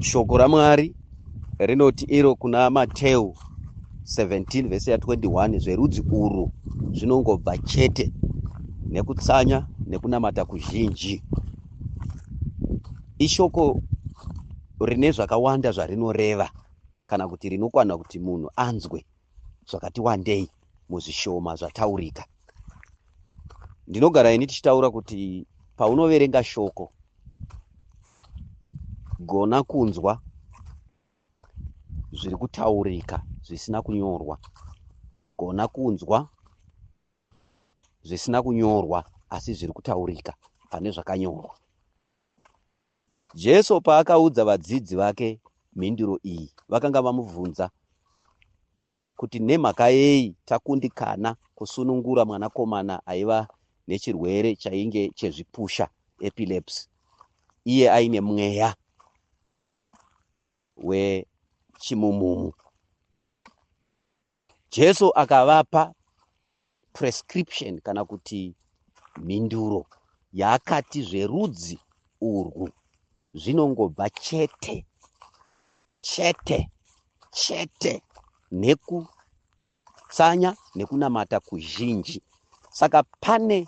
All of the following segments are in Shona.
Shoko raMwari rinoti iro kuna Mateu 17 vese ya 21 zverudzi urwu zvinongobva chete nekutsanya nekunamata kuzhinji. Ishoko rine zvakawanda zvarinoreva kana kuti rinokwana kuti munhu anzwe zvakati wandei muzvishoma zvataurika ndinogara ini tichitaura kuti paunoverenga shoko gona kunzwa zviri kutaurika zvisina kunyorwa gona kunzwa zvisina kunyorwa asi zviri kutaurika pane zvakanyorwa Jesu paakaudza vadzidzi vake mhinduro iyi, vakanga vamubvunza kuti nemhaka yei takundikana kusunungura mwanakomana aiva nechirwere chainge chezvipusha, epilepsy, iye aine mweya wechimumumu. Jesu akavapa prescription kana kuti mhinduro yaakati zverudzi urwu zvinongobva chete chete chete nekutsanya nekunamata kuzhinji saka pane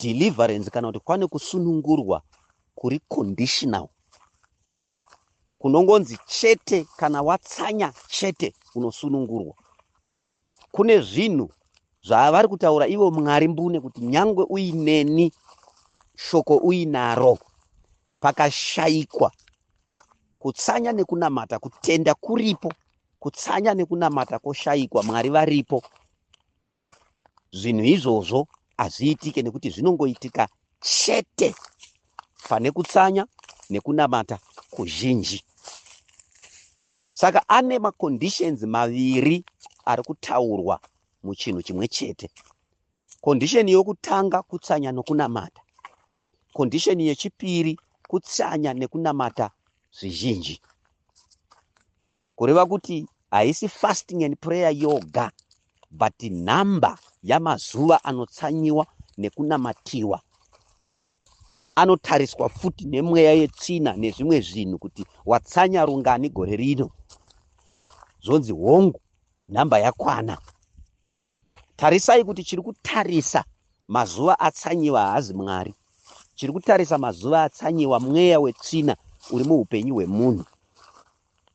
deliverance kana kuti kwane kusunungurwa kuri conditional kunongonzi chete kana watsanya chete unosunungurwa kune zvinhu zvavari kutaura ivo mwari mbune kuti nyangwe uineni shoko uinaro pakashayikwa kutsanya nekunamata kutenda kuripo kutsanya nekunamata koshayikwa mwari varipo zvinhu izvozvo hazviitike nekuti zvinongoitika chete pane kutsanya nekunamata kuzhinji saka ane maconditions maviri ari kutaurwa muchinhu chimwe chete condition yokutanga kutsanya nokunamata condition yechipiri kutsanya nekunamata zvizhinji kureva kuti haisi fasting and prayer yoga but nhamba yamazuva anotsanyiwa nekunamatiwa anotariswa futi nemweya yetsvina nezvimwe zvinhu kuti watsanya rungani gore rino zvonzi hongu nhamba yakwana Tarisai kuti chiri kutarisa mazuva atsanyiwa haazi Mwari. Chiri kutarisa mazuva atsanyiwa mweya wetsvina uri muupenyu hwemunhu.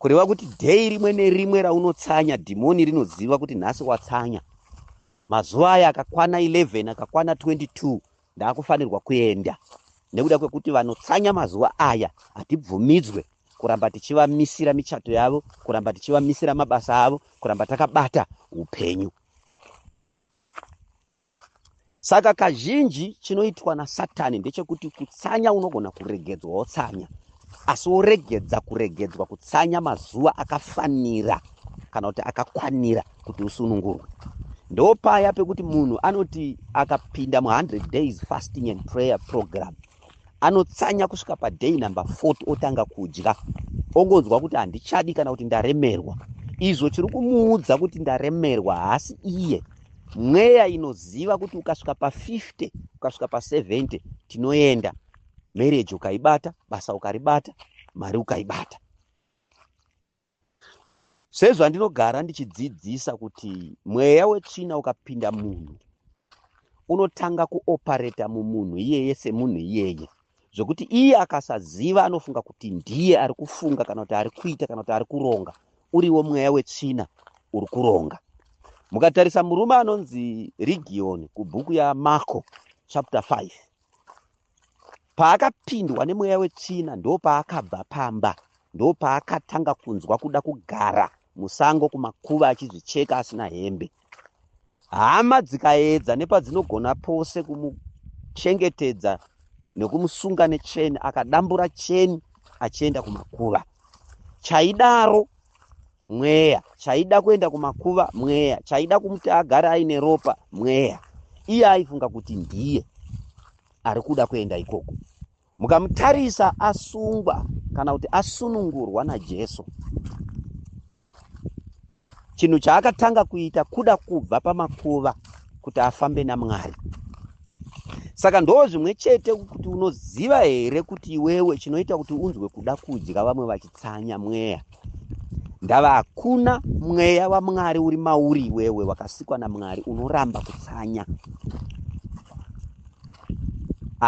Kureva kuti dheyi rimwe nerimwe raunotsanya, dhimoni rinoziva kuti nhasi watsanya. Mazuva aya akakwana 11, akakwana 22, Ndakufanirwa kuenda nekuda kwekuti vanotsanya mazuva aya hatibvumidzwe kuramba tichivamisira michato yavo kuramba tichivamisira mabasa avo kuramba takabata upenyu saka kazhinji chinoitwa nasatani ndechekuti kutsanya unogona kuregedzwa wotsanya Asi woregedza kuregedzwa kutsanya mazuva akafanira kana kuti akakwanira kuti usunungurwe. Ndo paya pekuti munhu anoti akapinda mu 100 days fasting and prayer program anotsanya kusvika pa day number 40 otanga kudya ongonzwa kuti handichadi kana kuti ndaremerwa. Izvo chiri kumuudza kuti ndaremerwa haasi iye. Mweya inoziva kuti ukasvika pa 50 ukasvika pa 70 tinoenda. marriage ukaibata basa ukaribata mari ukaibata sezvandinogara ndichidzidzisa kuti mweya wetsvina ukapinda munhu unotanga kuopareta mumunhu iyeye semunhu iyeye zvekuti iye akasaziva anofunga kuti ndiye ari kufunga kana kuti ari kuita kana kuti ari kuronga uriwo mweya wetsvina uri kuronga mukatarisa murume anonzi rigiyoni kubhuku yamarko chapter 5 Paakapindwa nemweya wetsvina ndopaakabva pamba, ndopaakatanga kunzwa kuda kugara musango kumakuva achizvicheka asina hembe. Hama dzikaedza nepadzinogona pose kumuchengetedza nekumusunga necheni, akadambura cheni achienda kumakuva. Chaidaro mweya chaida kuenda kumakuva mweya chaida kumuti agare aine ropa mweya iye aifunga kuti ndiye ari kuda kuenda ikoko mukamutarisa asungwa kana kuti asunungurwa najesu chinhu chaakatanga kuita kuda kubva pamakuva kuti afambe namwari saka ndoo zvimwe chete kuti unoziva here kuti iwewe chinoita kuti unzwe kuda kudya vamwe vachitsanya mweya ndava hakuna mweya wamwari uri mauri iwewe wakasikwa namwari unoramba kutsanya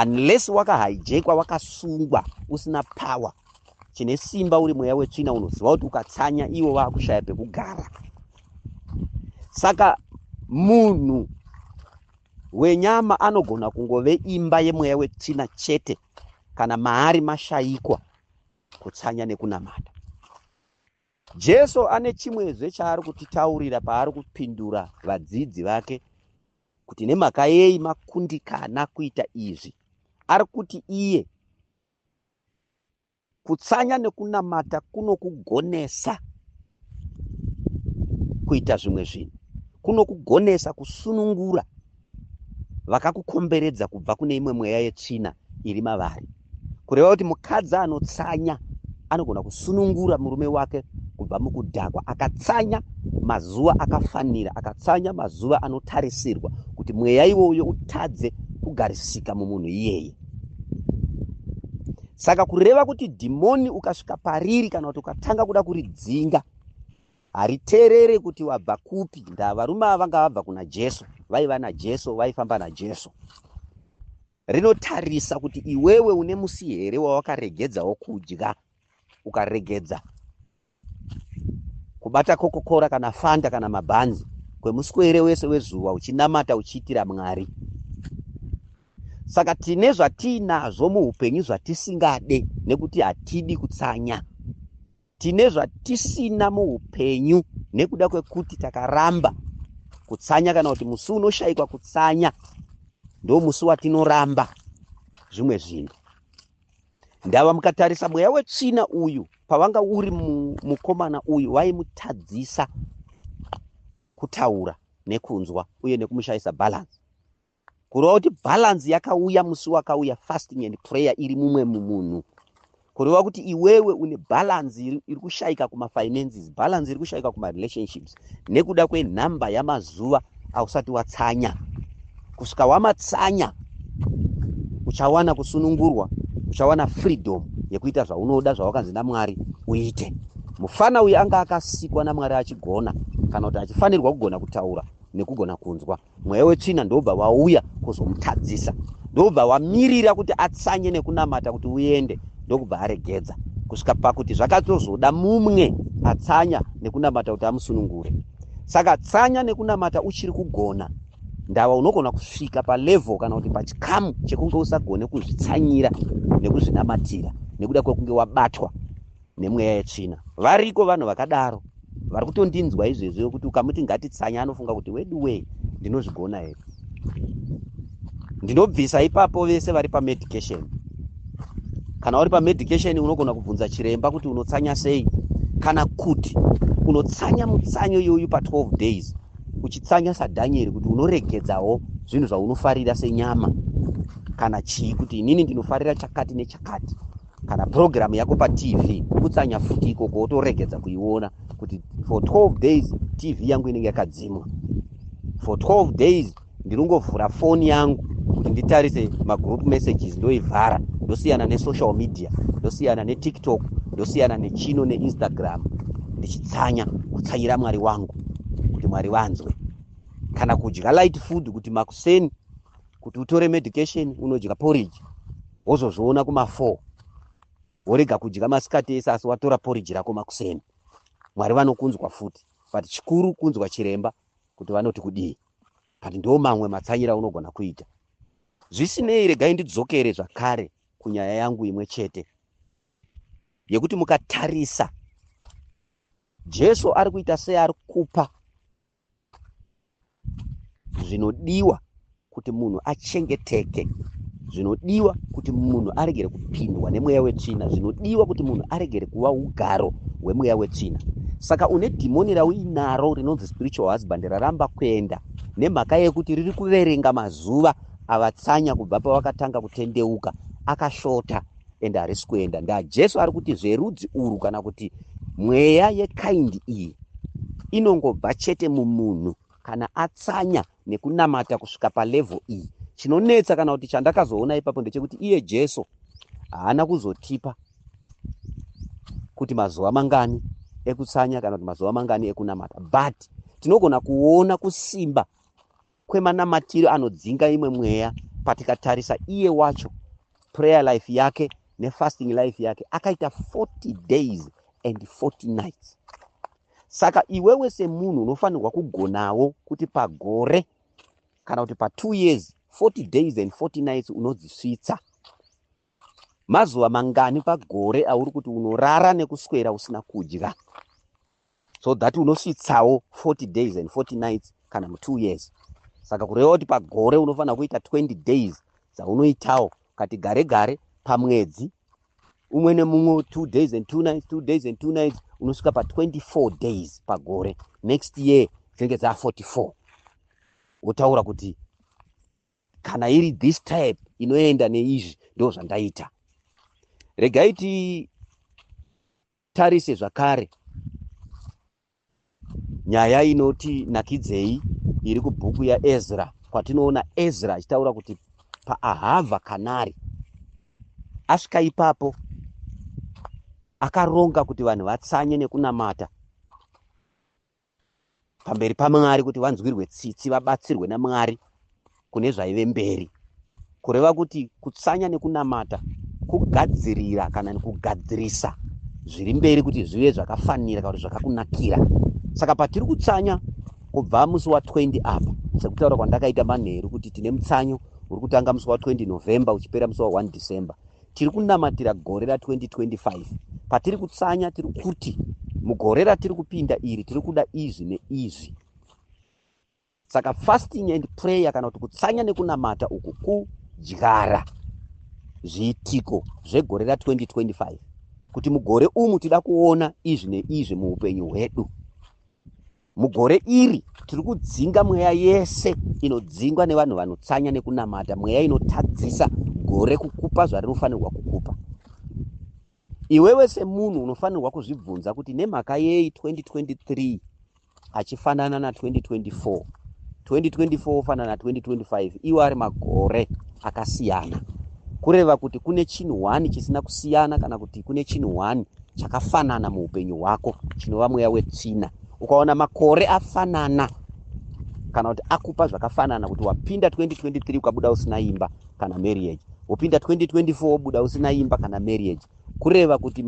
unless wakahijekwa wakasungwa usina power chine simba uri mweya wetsvina unoziva kuti ukatsanya iwo vakushaya pekugara saka munhu wenyama anogona kungove imba yemweya wetsvina chete kana maari mashayikwa kutsanya nekunamata. Jesu ane chimwezve chaari kutitaurira paari kupindura vadzidzi vake kuti nemhaka yei makundikana kuita izvi. Ari kuti iye kutsanya nekunamata kunokugonesa kuita zvimwe zvinhu kunokugonesa kusunungura vakakukomberedza kubva kune imwe mweya yetsvina iri mavari kureva kuti mukadzi anotsanya anogona kusunungura murume wake kubva mukudhakwa akatsanya mazuva akafanira akatsanya mazuva anotarisirwa kuti mweya iwoyo utadze kugarisika mumunhu iyeye saka kureva kuti dhimoni ukasvika pariri kana kuti ukatanga kuda kuridzinga hariterere kuti wabva kupi ndaa varume ava vanga vabva kuna jesu vaiva najesu vaifamba najesu rinotarisa kuti iwewe une musi here wawakaregedzawo kudya ukaregedza kubata kokokora kana fanta kana mabhanzi kwemuswere wese wezuva uchinamata uchiitira mwari saka tine zvatiinazvo muupenyu zvatisingade nekuti hatidi kutsanya tine zvatisina muupenyu nekuda kwekuti takaramba kutsanya kana kuti musi unoshayikwa kutsanya ndo musi watinoramba zvimwe zvinhu ndava mukatarisa mweya wetsvina uyu pavanga uri mukomana uyu vaimutadzisa kutaura nekunzwa uye nekumushayisa balance kureva kuti balance yakauya musi wakauya fasting and prayer iri mumwe mumunhu kureva kuti iwewe une balance iri kushayika kumafinances balance iri kushayika kumarelationships nekuda kwenhamba yamazuva ausati watsanya kusvika wamatsanya uchawana kusunungurwa uchawana freedom yekuita zvaunoda zvawakanzi namwari uite mufana uyu anga akasikwa namwari achigona kana kuti achifanirwa kugona kutaura nekugona kunzwa mweya wetsvina ndobva wauya kuzomutadzisa ndobva wamirira kuti atsanye nekunamata kuti uende ndokubva aregedza kusvika pakuti zvakatozoda mumwe atsanya nekunamata kuti amusunungure saka tsanya nekunamata uchiri kugona ndava unogona kusvika palevel kana kuti pachikamu chekunge usagone kuzvitsanyira nekuzvinamatira nekuda kwekunge wabatwa nemweya yetsvina variko vanhu vakadaro vari kutondinzwa izvezvi yokuti ukamuti ngatitsanya anofunga kuti weduwee ndinozvigona here ndinobvisa ipapo vese vari pamedication kana uri pamedication unogona kubvunza chiremba kuti unotsanya sei kana kuti unotsanya mutsanyo iyoyu pa12 days uchitsanya sadhanyeri kuti unoregedzawo zvinhu zvaunofarira senyama kana chii kuti inini ndinofarira chakati nechakati kana program yako patv kutsanya futi ikoko wotoregedza kuiona kuti for 12 days tv yangu inenge yakadzimwa for 12 days ndinongovhura foni yangu kuti nditarise magroup messages ndoivhara ndosiyana nesocial media ndosiyana netiktok ndosiyana nechino neinstagram ndichitsanya kutsanyira mwari wangu kuti mwari vanzwe kana kudya light food kuti makuseni kuti utore medication unodya porridge wozozviona kuma four worega kudya masikati ese asi watora porridge rako makuseni mwari vanokunzwa futi but chikuru kunzwa chiremba kuti vanoti kudii but ndo mamwe matsanyira unogona kuita zvisinei regai ndidzokere zvakare kunyaya yangu imwe chete yekuti mukatarisa jesu ari kuita sei ari kupa zvinodiwa kuti munhu achengeteke zvinodiwa kuti munhu aregere kupindwa nemweya wetsvina zvinodiwa kuti munhu aregere kuva ugaro hwemweya wetsvina saka une dhimoni rauinaro rinonzi spiritual husband raramba kuenda nemhaka yekuti riri kuverenga mazuva avatsanya kubva pavakatanga kutendeuka akashota ende harisi kuenda ndajesu ari kuti zverudzi urwu kana kuti mweya yekaindi iyi inongobva chete mumunhu kana atsanya nekunamata kusvika palevhel iyi chinonetsa kana kuti chandakazoona ipapo ndechekuti iye jesu haana kuzotipa kuti mazuva mangani ekutsanya kana kuti mazuva mangani ekunamata but tinogona kuona kusimba kwemanamatiro anodzinga imwe mweya patikatarisa iye wacho prayer life yake nefasting life yake akaita 40 days and 40 nights saka iwewe semunhu unofanirwa kugonawo kuti pagore kana kuti patwo years 40 days and 40 nights unodzisvitsa mazuva mangani pagore auri kuti unorara nekuswera usina kudya so that unosvitsawo 40 days and 40 nights kana mu2 years saka kureva kuti pagore unofanira kuita 20 days dzaunoitawo kati gare gare pamwedzi umwe nemumwe two days and two nights two days and two nights unosvika pa24 days pagore next year dzinenge dza 44 wotaura kuti kana iri this type inoenda neizvi ndo zvandaita regai ti Tarise zvakare nyaya inoti nakidzei iri kubhuku yaezra kwatinoona ezra achitaura kuti paahavha kanari asvika ipapo akaronga kuti vanhu vatsanye nekunamata pamberi paMwari kuti vanzwirwe tsitsi vabatsirwe naMwari kune zvaive mberi kureva kuti kutsanya nekunamata kugadzirira kana kugadzirisa zviri mberi kuti zvive zvakafanira kana kuti zvakakunakira saka patiri kutsanya kubva musi wa 20 apa sekutaura kwandakaita manheru kuti tine mutsanyo uri kutanga musi wa 20 november uchipera musi wa 1 december tiri kunamatira gore ra 2025 patiri kutsanya tiri kuti mugore ratiri kupinda iri tiri kuda izvi neizvi saka fasting and prayer kana kuti kutsanya nekunamata uku kudyara zviitiko zvegore ra 2025 kuti mugore umu tida kuona izvi neizvi muupenyu hwedu Mugore iri tiri kudzinga mweya yese inodzingwa nevanhu vanotsanya nekunamata, mweya inotadzisa gore kukupa zvarinofanirwa kukupa. Iwewe semunhu unofanirwa kuzvibvunza kuti nemhaka yei 2023 achifanana na 2024 2024 ofanana na 2025 iwo ari magore akasiyana kureva kuti kune chinhu one chisina kusiyana kana kuti kune chinhu one chakafanana muupenyu hwako chinova mweya wetsvina ukaona makore afanana kana kuti akupa zvakafanana kuti wapinda 2023 ukabuda usina imba kana marriage wopinda 2024 wobuda usina imba kana marriage kureva kuti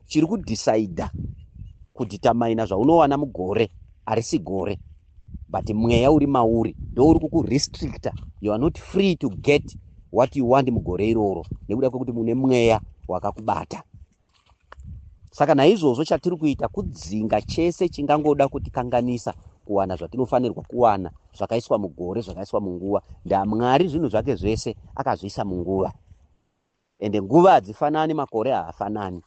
chiri kudhisaidha kudhitamaina zvaunowana mugore harisi gore but mweya uri mauri ndouri kukurestricta you are not free to get what you want mugore iroro nekuda kwekuti mune mweya wakakubata Saka naizvozvo chatiri kuita kudzinga chese chingangoda kutikanganisa kuwana zvatinofanirwa kuwana zvakaiswa mugore zvakaiswa munguva ndamwari zvinhu zvake zvese akazviisa munguva ende nguva hadzifanani makore haafanani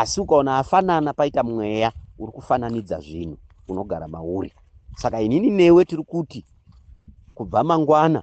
asi ukaona afanana paita mweya uri kufananidza zvinhu unogara mauri saka inini newe tiri kuti kubva mangwana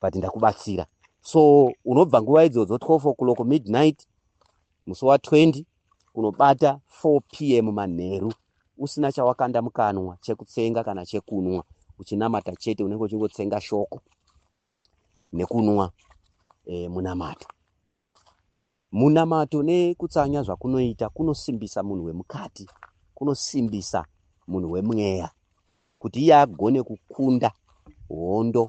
but ndakubatsira so unobva nguva idzodzo 12 o'clock midnight musi wa 20 unobata 4 p m manheru usina chawakanda mukanwa chekutsenga kana chekunwa uchinamata chete unenge uchingotsenga shoko nekunwa e, munamato Munamato nekutsanya zvakunoita kunosimbisa munhu wemukati, kunosimbisa munhu wemweya kuti iye agone kukunda hondo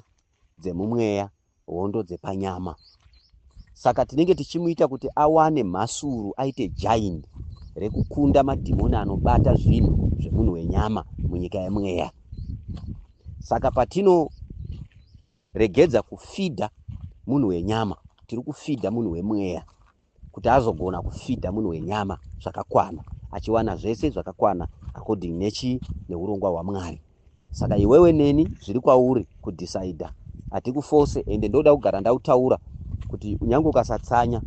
dzemumweya, hondo dzepanyama. Saka tinenge tichimuita kuti awane mhasuru, aite jaini rekukunda madhimoni anobata zvinhu zvemunhu wenyama munyika yemweya. Saka patino Regedza kufidha munhu wenyama, tiri kufidha munhu wemweya kuti azogona kufidha munhu wenyama zvakakwana, achiwana zvese zvakakwana according nechi neurongwa hwaMwari. Saka iwewe neni zviri kwauri kudhisaidha, hatikufose ende ndoda kugara ndautaura kuti unyange ukasatsanya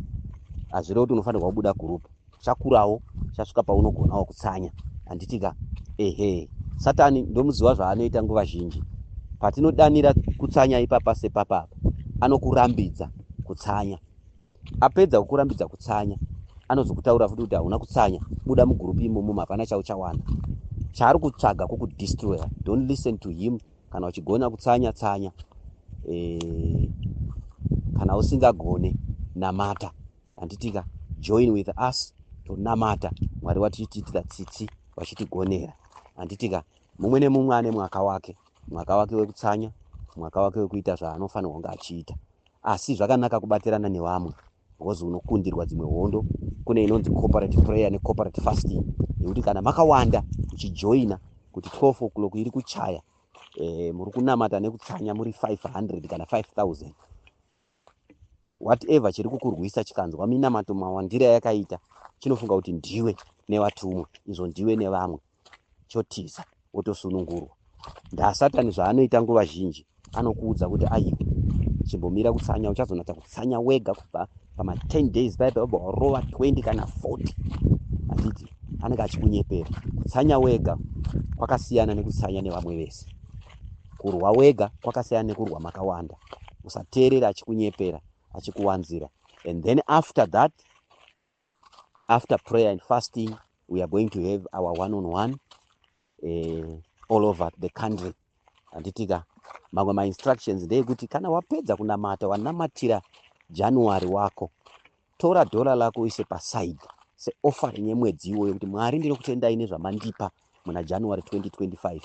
hazvirevi kuti unofanirwa kubuda gurupu. chakurawo chasvika paunogonawo kutsanya handitika ehe satani ndomuziva zvaanoita nguva zhinji patinodanira kutsanya ipapa sepapa apa anokurambidza kutsanya apedza kukurambidza kutsanya anozokutaura futi kuti hauna kutsanya buda mugurupi imomo mapana chauchawana chaari kutsvaga kukudestroyer don't listen to him kana uchigona kutsanya tsanya e, kana usingagone namata handitika join with us tonamata mwari vatichitiitira tsitsi vachitigonera handitika mumwe nemumwe ane mwaka wake mwaka wake wekutsanya mwaka wake wekuita zvaanofanirwa kunge achiita asi zvakanaka kubatirana nevamwe bcause unokundirwa dzimwe hondo kune inonzi cooperative prayer necooperative fasting yekuti kana makawanda uchijoina kuti 12 o'clock iri kuchaya e, muri kunamata nekutsanya muri 500 kana 5000 whatever chiri kukurwisa chikanzwa minamato mawandira yakaita chinofunga kuti ndiwe nevatumwa izvo ndiwe nevamwe chotiza wotosunungurwa ndasatani zvaanoita nguva zhinji anokuudza kuti aiwe chimbomira kutsanya uchazonatsa kutsanya wega kubva pama 10 days paipa obva warova 20 kana 40 achiti anenge achikunyepera kutsanya wega kwakasiyana nekutsanya nevamwe vese kurwa wega kwakasiyana nekurwa makawanda usateerera achikunyepera achikuwanzira and then after that after prayer and fasting we are going to have our one on one uh, all over the country handitika mamwe mainstructions ndeyekuti kana wapedza kunamata wanamatira january wako Tora dollar lako uise paside se offering yemwedzi iwoyo kuti Mwari ndinokutendai nezvamandipa muna January 2025.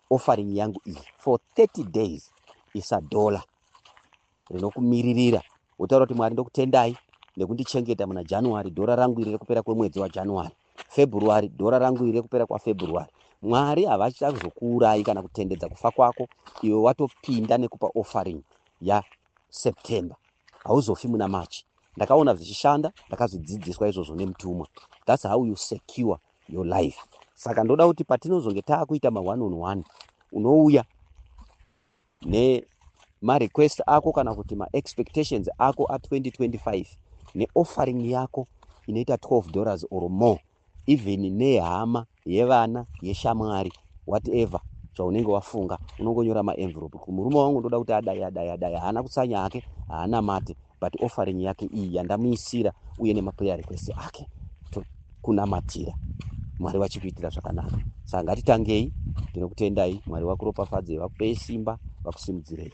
Offering yangu iyi for 30 days isa dollar rinokumiririra wotaura kuti Mwari ndokutendai nekundichengeta muna January dollar rangu iri rekupera kwemwedzi waJanuary. February dollar rangu iri rekupera kwaFebruary. Mwari havachazokuurayi kana kutendedza kufa kwako iwe watopinda nekupa offering ya September hauzofi muna March ndakaona zvichishanda ndakazvidzidziswa izvozvo nemutumwa that's how you secure your life saka ndoda kuti patinozonge taakuita ma one on one unouya ne marequest ako kana kuti maexpectations ako a2025 neoffering yako inoita 12 dollars or more even nehama yevana yeshamwari whatever zvaunenge wafunga unongonyora maenvelope kuti murume wangu ndoda kuti adai adai adai haana kutsanya hake haana mate but offering yake iyi yandamuisira uye nemaprayer request ake tokunamatira mwari vachikuitira zvakanaka saka ngatitangei ndinokutendai mwari vakuropafadzei vakupe simba vakusimudzirei